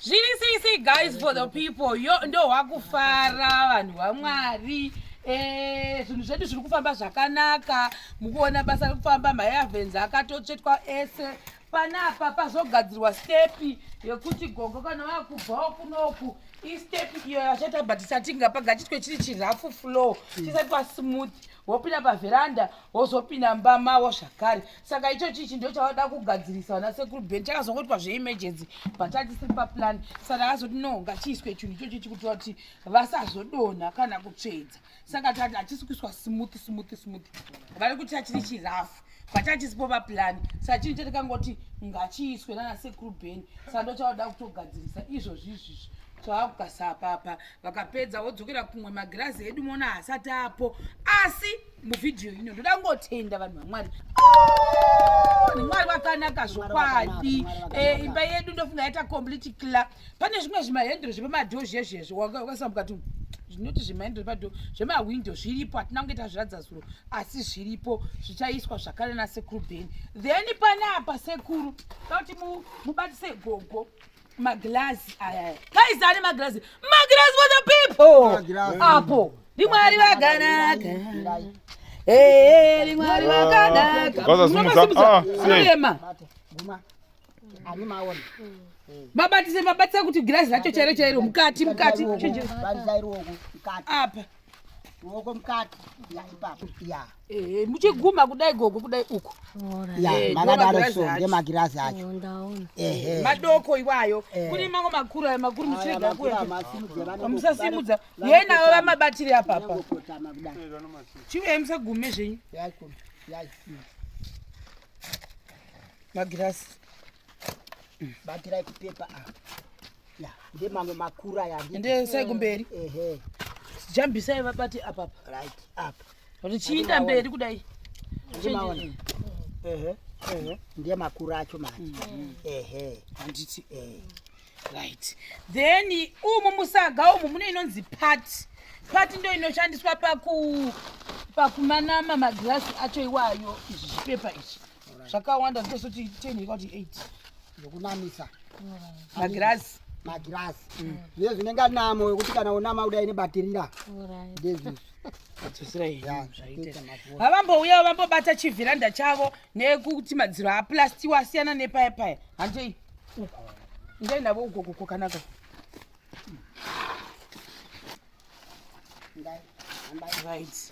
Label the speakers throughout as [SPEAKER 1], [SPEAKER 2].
[SPEAKER 1] Zviri sisi guys for the people yo ndo wakufara vanhu vamwari eh, zvinhu zvedu zviri kufamba zvakanaka mukuona basa rekufamba mayavenzi akatotsvetwa ese panapa pazogadzirwa stepi yekuti gogo kana vakubvawo kunoku istepi iyo yachaita but isatinga pagachitwe chiri chirafu flow chisati pasmooth wopinda pavheranda wozopinda mumba mavo zvakare saka icho chichi ndo chavada kugadzirisa vana sekuru ben chakazongoitwa zveemergency but achisiri paplan saka akazoti no ngachiiswe chinhu ichochi chikuitira kuti vasazodonha kana kutsvedza saka tati hachisi kuiswa smooth smooth smooth vari kuti achiri chirafu but achisipo paplan saka chinhu chatikangoti ngachiiswe nana sekuru ben saka ndo chavada kutogadzirisa izvozvi izvizvi twavakukasa apapa vakapedza vodzokera kumwe magirazi edu mona hasati apo asi muvhidhiyo ino ndoda kungotenda vanhu vamwari mwari vakanaka zvokwadi eh, imba yedu ndofunga yaita complete cla pane zvimwe zvimahendro zvepamadho zviya zviya zvakasambuka tu zvinoti zvimahendro zvepadho zvemahwindo zviripo hatina kunge tazviradza zuro asi zviripo zvichaiswa zvakare nasekuru beni then pane apa sekuru tauti mubatise gogo maglazi aya guys ane maglazi maglazi for the people apo ndimwari vaganaka ndimwari vaganaka mabatise mabatisa kuti girazi racho chairo chairo mukati mukati apa ruoko
[SPEAKER 2] mukati ya ipapo ya yeah. Eh, muchiguma
[SPEAKER 1] kudai gogo kudai uko eh, makadaro
[SPEAKER 2] so ngemagirazi acho eh, madoko
[SPEAKER 1] iwayo kune mango makuru ayo makuru muchirega kuyamusasimudza yei navo vamabatiri apapa chiuya musagume zvenyu magirazi
[SPEAKER 2] batirai kupepa ndemamwe makuru aya ndesai kumberi
[SPEAKER 1] jambisai vabati apapa right apa
[SPEAKER 2] richiinda
[SPEAKER 1] mberi kudai
[SPEAKER 2] ndiye makuru acho mati mm. ehe
[SPEAKER 1] handiti eh. right then umu musaga umu mune inonzi pati pati ndo inoshandiswa paku pakumanama magirasi acho iwayo izvi zvipepa izvi zvakawanda zvitosoti 10 ikati 8 zvokunamisa magirazi magirazi
[SPEAKER 2] mm. zviye zvinenge anamo wekuti kana unama kudai nebatirira ndezvizvi
[SPEAKER 1] havambouyawo vambobata chivhiranda chavo nekuti madziro aplastiwo asiyana nepaya paya handei uko ndei navo uko kuko kanaka right.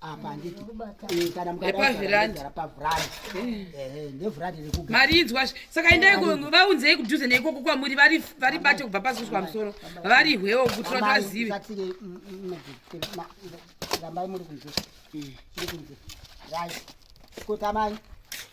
[SPEAKER 2] apa handiti eh, kana mukadapaviranda ndevhurandi rekuga mari inzwa saka endai
[SPEAKER 1] vaunzei kudhuze neikoko kwamuri vari bate kubva pasi kusvika musoro vari hwewo kuti vati vazive mm, mm, mm,
[SPEAKER 2] rambai muri kunze muri kunze rai kotamai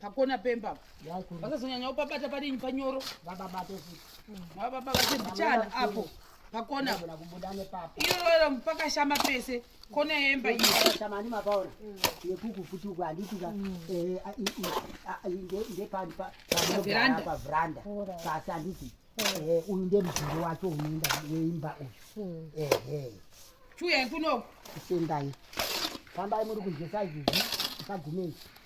[SPEAKER 1] pakona pemba vakazonyanya upabata padinyi panyoro vababate futi
[SPEAKER 2] vababa vate
[SPEAKER 1] mbichana apo pakona iyoyo pakashama pese kona yemba iyoshamaani mapaona
[SPEAKER 2] mm. yekuku futi uku handitika mm. eh, ndepavranda pasi handiti mm. eh, uyu ndemudhiri wacho unoenda weimba uyu ehe chuya
[SPEAKER 1] kunoku sendai
[SPEAKER 2] fambai muri kunzesa izvizvi isagumei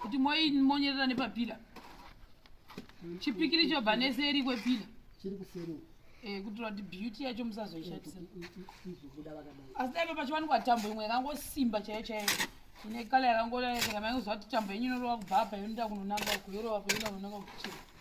[SPEAKER 1] kuti monyerera nepapila chipikiri chobva neseri kwepila chiri kuseri
[SPEAKER 2] Eh, kuti vati
[SPEAKER 1] beauty yacho musazoishatisa asi daiva pachiwanikwa tambo imwe yakangosimba chaiyo chaiyo ine kala yakangoaaa kuti tambo yenyu inorova kubva apa yonoda kunonanga kuyorova payoda kunonanga kuchii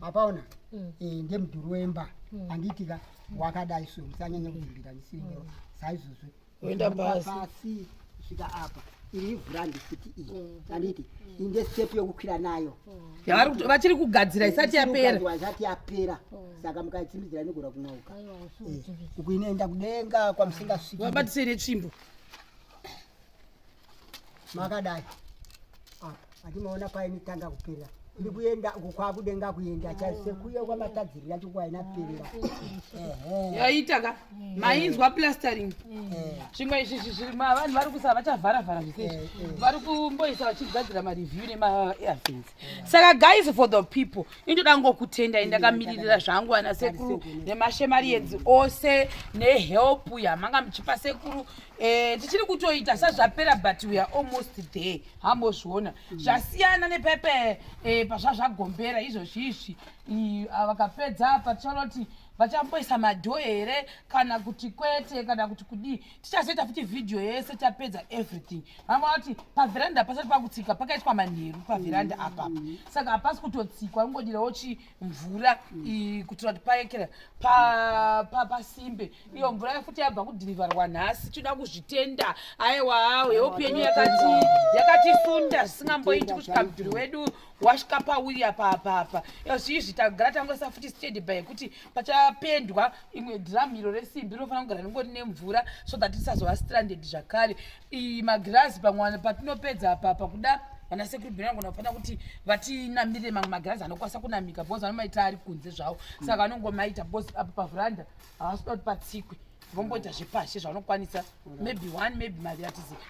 [SPEAKER 2] apaona mm. e, eh, ndemudhuri wemba mm. handiitika wakadai so musanyanya kuvimbira ndisiringewo mm. saizvozvo oenda
[SPEAKER 1] pasi
[SPEAKER 2] svika apa iri ivhu randisiti iyi mm. anditi mm. inde step yokukwira nayo mm. vachiri
[SPEAKER 1] kugadzira isati yapera isati yapera
[SPEAKER 2] saka mukaitsimbidzira inogona kunauka eh, uku inoenda kudenga kwamusingasviki wabatisei netsvimbo makadai apa atimaona painitanga kuperera ndi kuenda uko kwakudenga kuenda chaise kuya kwamatadzirira chikwaina perera
[SPEAKER 1] yaita ka mainzwa plastering zvimwe izvi zviri vanhu vari kusa vachavhara vhara zvise vari kumboisa vachigadzira mareview nemaairfins saka guys for the people indoda ngokutendai ndakamiririra zvangu ana sekuru nemashemari edzi ose nehelp yamanga muchipa sekuru yeah, Eh, tichiri kutoita sazvapera but we are almost there hambozviona mm. zvasiyana nepepe eh, pazvazvagombera izvozvi izvi ah, vakapedza apa tichanoti vachamboisa madho here kana kuti kwete kana kuti kudii tichazoita futi vhidhiyo yese tapedza everything vamaona kuti pavheranda pasati pakutsika pakaitwa manheru pavheranda mm. apapa saka hapasi kutotsikwa ungodirawo chii mvura iyi kuitira kuti paekera pasimbe iyo mvura yafuti yabva kudhirivharwa nhasi tinoda kuzvitenda aiwa yeupenyu yakatisunda zvisingamboiti kusvika mudhuri wedu wasvika pauya papapa zviizvi tagara tangoisa futi stadi by yekuti pachapendwa imwe dhiramu iro resimbi rinofanira kugara ringori nemvura so that tisazova stranded zvakare iyi magirazi pamwana patinopedza apapa kuda vana sekuru bhirango nafana kuti vatinamire mamwe magirazi anokwanisa kunamika because vanomaita ari kunze zvawo saka vanongomaita because apa pavhuranda havasi kuda kuti patsikwe vomboita zvepashi zvavanokwanisa maybe one maybe maviri atiziva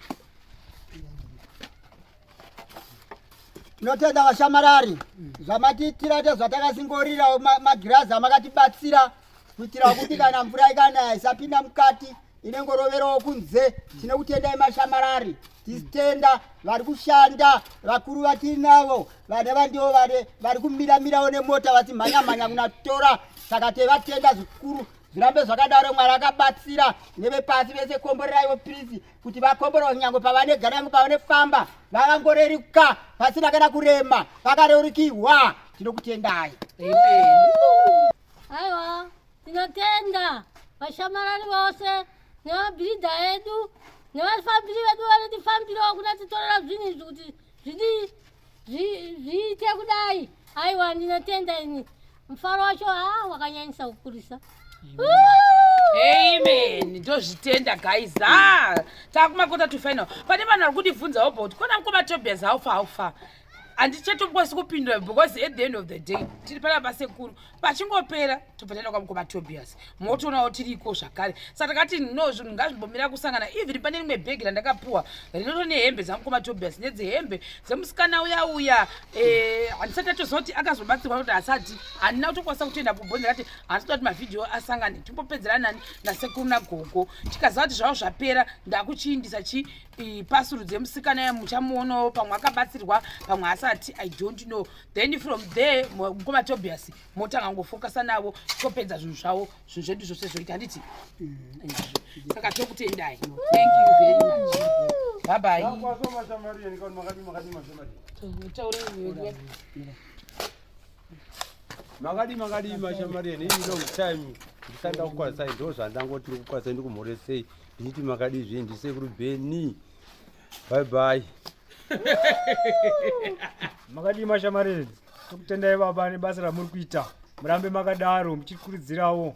[SPEAKER 1] tinotenda
[SPEAKER 2] vashamarari zvamatiitira tezvatakasingorirawo magirazi amakatibatsira kuitira kuti kana mvura ikanaya isapinda mukati ine ngoroverowo kunze tine kutendai mashamarari tisitenda vari kushanda vakuru vatiri navo vane vandiwo vane vari kumiramirawo nemota vachimhanyamhanya kunatora saka tevatenda zvikuru zvirambe zvakadaro mwari akabatsira nevepasi vese komboreraiwo pirisi kuti vakomborowo nyangwe pavanegara yangu pavanefamba vakangoreruka vasina kana kurema vakareurikihwa tinokutendai
[SPEAKER 3] aiwa Tinotenda vashamarari vose nevabhiridha edu nevafambiri vedu vanotifambirawo kuna titorera zvinhu izvi kuti zviite kudai aiwa ndinotenda ini mufaro wacho haa ah, wakanyanyisa kukurisa
[SPEAKER 1] amen ndozvitenda guys a ah, takumakota to final pane vanhu vari kundibvunzawo about kona mkoma tobias haufa haufa handichatokwanisi kupindura because at the end of the day tiri pana basekuru pachingopera tobva taenda kwamukoma tobias motoonawo tiriko zvakare saka takati no zvinhu ngazvimbomira kusangana even pane rimwe bhegi randakapuwa rinoto nehembe dzamukoma tobias nedzehembe dzemusikana uya uya eh, handisati atozoti akazobatsirwa kuti asati handina kutokwanisa kutoenda kubhonzi akati handisati kuti mavhidhiyo asangane timbopedzera nani nasekuru nagogo tikaziva kuti zvavo zvapera ndakuchiindisa chi pasuru dzemusikana yamuchamuonawo pamwe akabatsirwa pamwe asati i don't know then from there mukoma tobias motanga kungofokasa navo topedza zvinhu zvavo zvinhu zvedu zvose zvoita handiti mm. saka tokutendai thank you very much babai
[SPEAKER 4] makadi makadi mashamari eni ini long time ndisanda kukwarisai ndo zvandangoti ndikukwarisai ndikumhoresei ndichiti makadi zve ndisekuru beni bye bye
[SPEAKER 5] makadii mashamari tokutendai baba nebasa ramuri kuita murambe makadaro muchikuridzirawo